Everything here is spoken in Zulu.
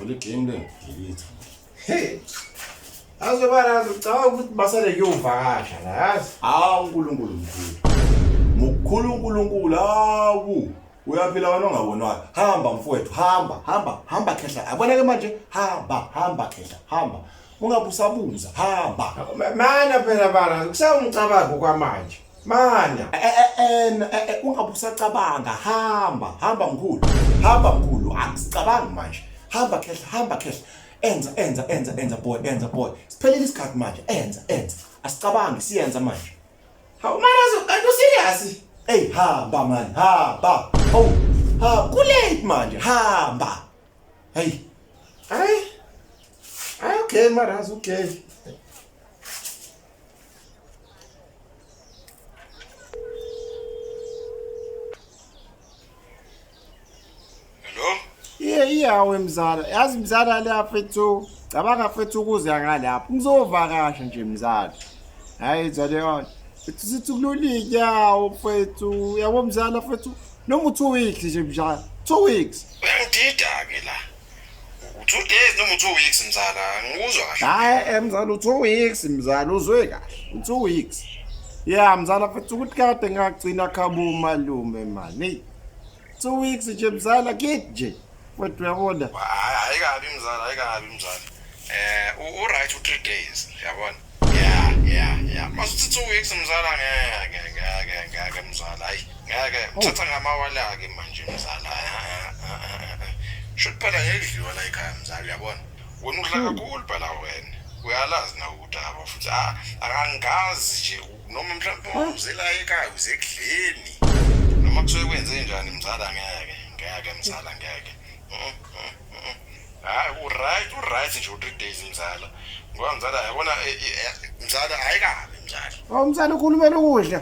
Olha quem, né? Querido. Azi bana ngicabanga ukuthi basale kuyovakasha la yazi. Hawu uNkulunkulu mkhulu. Mukhulu uNkulunkulu hawu. uyaphila wena ongabonwayo hamba mfowethu hamba hamba hamba khehla aboneke manje hamba hamba khehla hamba ungabusabuza hamba mana phela bala kusawumcabango kwamanje mana ungabusacabanga hamba hamba mkhulu hamba mkhulu akusicabangi manje hamba khehla hamba khehla enza enza enza enza boy enza boy siphelile isikhathi manje enza enza asicabangi siyenza manje Hawu marazo kanti userious? Hey hamba man, hamba. Oh, ha kulate manje, hamba. Hey. Hey. Hey okay marazo, okay. Hello? Iye iyawe mzala. Yazi mzala la fethu. Cabanga fethu ukuza ngalapha. Ngizovakasha nje mzala. Hayi izale yona. Fethu sithi kululike yawo fethu. Yabo mzala fethu. Noma u2 weeks nje mzala. 2 weeks. Uyangidida ke la. two days noma two weeks mzala ngikuzwa kahle hayi eh, mzala u-two weeks mzala uzwe kahle u-two weeks ya mzala futhi ukuthi kade ngagcina khaba umalume mani two weeks nje mzala kid nje kodwa uyabona hayi kabi mzala hayi kabi mzala eh u right u 3 days yabona yeah yeah yeah masuthi 2 weeks mzala ngeke ngeke ngeke mzala hayi ngeke oh. uthatha ngamawala ke manje mzala should phela ngedliwa la ekhaya mzala yabona wena udla hmm. kakhulu phela wena uyalazi na ukuthi aba futhi ah, akangazi nje noma mhlawumbe hmm. uzela ekhaya uzekudleni noma kusuke kwenze njani mzala ngeke ngeke mzala ngeke hmm, hayi uright uright nje u-three days mzala ngoba mzala yabona eh, eh, eh, mzala hayi kabi mzala Oh mzala ukhulumela ukudla.